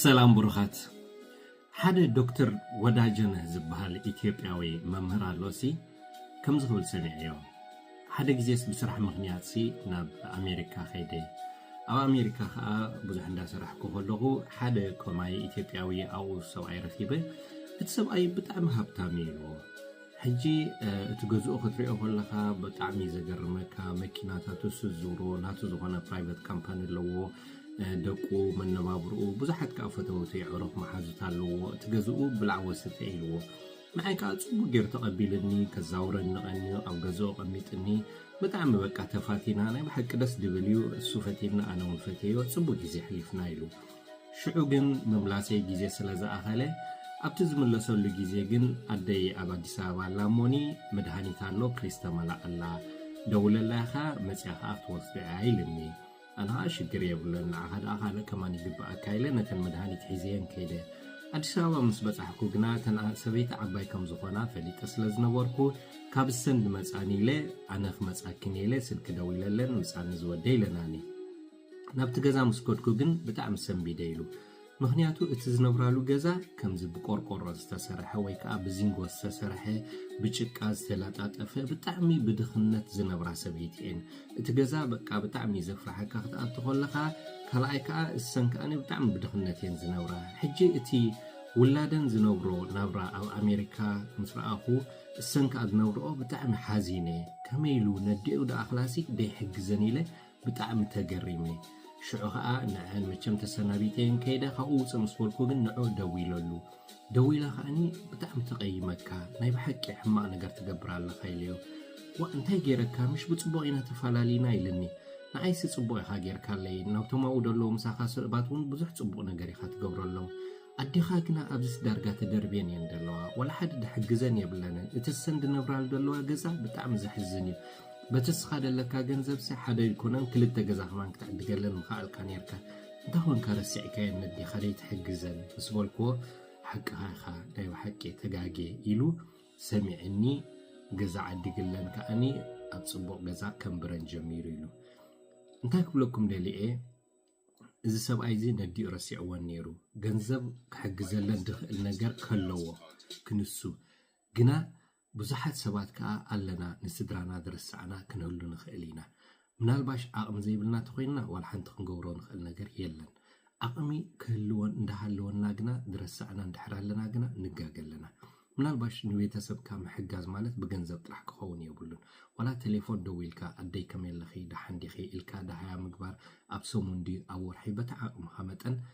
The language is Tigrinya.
ሰላም ብሩኻት ሓደ ዶክተር ወዳጀነህ ዝበሃል ኢትዮጵያዊ መምህር ኣሎሲ ከምዚ ክብል ሰሚዐዮ ሓደ ግዜስ ብስራሕ ምኽንያትሲ ናብ ኣሜሪካ ከይደ ኣብ ኣሜሪካ ከዓ ብዙሕ እንዳሰራሕኩ ከለኹ ሓደ ከማይ ኢትዮጵያዊ ኣብኡ ሰብኣይ ረኪበ እቲ ሰብኣይ ብጣዕሚ ሃብታም እዩ ኢልዎ ሕጂ እቲ ገዝኡ ክትሪኦ ከለኻ ብጣዕሚ እዩ ዘገርመካ መኪናታቱ ስዙሮ ናቱ ዝኾነ ፕራይቨት ካምፓኒ ኣለዎ ደቁ መነባብርኡ ብዙሓት ከዓ ፈተውቲ የዕሩኽ መሓዙት ኣለዎ እቲ ገዝኡ ብላዕ ወስተ ኢልዎ ንዓይ ከዓ ፅቡቅ ገይሩ ተቐቢልኒ ከዛውረኒ ቀንዩ ኣብ ገዝኡ ቀሚጥኒ ብጣዕሚ በቃ ተፋቲና ናይ ብሓቂ ደስ ድብል እዩ እሱ ፈትየኒ ኣነ እውን ፈትየዮ ፅቡቅ ግዜ ኣሕሊፍና ኢሉ ሽዑ ግን ምምላሰይ ግዜ ስለ ዝኣኸለ ኣብቲ ዝምለሰሉ ግዜ ግን ኣደይ ኣብ ኣዲስ ኣበባ ኣላ እሞኒ መድሃኒት ኣሎ ፕሊስ ተመላኣላ ደውለላ ኢኻ መጺኣ ከኣ ክትወስዶ እያ ኢልኒ ኣነ ከኣ ሽግር የብለን ንዓኻ ደኣ ካልእ ከማን ይግበኣካ ኢለ ነተን መድሃኒት ሒዘየን ከይደ ኣዲስ ኣበባ ምስ በጻሕኩ ግና እተን ሰበይቲ ዓባይ ከም ዝኾና ፈሊጠ ስለ ዝነበርኩ ካብ እሰን ድመጻኒ ኢለ ኣነ ክመጻኪን ኢለ ስልኪ ደዊለለን ምጻኒ ዝወደ ኢለናኒ ናብቲ ገዛ ምስ ከድኩ ግን ብጣዕሚ ሰንቢደ ኢሉ። ምኽንያቱ እቲ ዝነብራሉ ገዛ ከምዚ ብቆርቆሮ ዝተሰርሐ ወይ ከዓ ብዚንጎ ዝተሰርሐ ብጭቃ ዝተለጣጠፈ ብጣዕሚ ብድኽነት ዝነብራ ሰበይቲ እየን። እቲ ገዛ በቃ ብጣዕሚ እዩ ዘፍርሓካ ክትኣቱ ከለኻ ካልኣይ ከዓ እሰን ከዓኒ ብጣዕሚ ብድኽነት እየን ዝነብራ። ሕጂ እቲ ውላደን ዝነብሮ ናብራ ኣብ ኣሜሪካ ምስ ረኣኹ እሰን ከዓ ዝነብርኦ ብጣዕሚ ሓዚነ ከመይ ኢሉ ነዴኡ ደኣ ክላሲክ ደይሕግዘን ኢለ ብጣዕሚ ተገሪመ ሽዑ ከኣ ንዐን መቸም ተሰናቢተየን ከይደ ካብኡ ውፅእ ምስ በልኩ ግን ንዑ ደዊለሉ ደዊላ ከኣኒ ብጣዕሚ ተቐይመካ ናይ ብሓቂ ሕማቕ ነገር ትገብር ኣለኻ ኢለዮ ዋ እንታይ ገይረካ ምሽ ብፅቡቕ ኢና ተፈላለዩና ኢልኒ ንዓይሲ ፅቡቕ ኢኻ ጌርካለይ ናብቶም ኣብኡ ደለዉ ምሳኻ ስእባት እውን ብዙሕ ፅቡቕ ነገር ኢኻ ትገብረሎም ኣዴኻ ግና ኣብዚስ ዳርጋ ተደርብየን እየን ዘለዋ ዋላ ሓደ ድሕግዘን የብለንን እቲ ሰን ድነብራሉ ዘለዋ ገዛ ብጣዕሚ ዘሕዝን እዩ በቲ እስኻ ደለካ ገንዘብሲ ሓደ ኣይኮነን ክልተ ገዛ ከማን ክትዕድገለን ምኸኣልካ ነርካ እንታይ ኮንካ ረሲዕካየን ነዴኻ ደይትሕግዘን ምስ በልክዎ ሓቅኻ ኢኻ ናይ ብሓቂ ተጋጌ ኢሉ ሰሚዕኒ ገዛ ዓዲግለን ከዓኒ ኣብ ፅቡቕ ገዛ ከንብረን ጀሚሩ ኢሉ እንታይ ክብለኩም ደሊኤ እዚ ሰብኣይ እዚ ነዲኡ ረሲዕወን ነይሩ ገንዘብ ክሕግዘለን ድኽእል ነገር ከለዎ ክንሱ ግና ብዙሓት ሰባት ከኣ ኣለና ንስድራና ዝረሳዕና ክንህሉ ንኽእል ኢና ምናልባሽ ዓቕሚ ዘይብልና ተኾይንና ዋላ ሓንቲ ክንገብሮ ንኽእል ነገር የለን ዓቕሚ ክህልወን እንዳሃለወና ግና ዝረሳዕና እንድሕር ኣለና ግና ንጋገ ኣለና ምናልባሽ ንቤተሰብካ ምሕጋዝ ማለት ብገንዘብ ጥራሕ ክኸውን የብሉን። ዋላ ቴሌፎን ደዊልካ ኣደይ ከመይ ኣለኺ፣ ደሓን ዲኺ ኢልካ ደሃያ ምግባር ኣብ ሰሙን ድዩ ኣብ ወርሒ በቲ ዓቕምኻ መጠን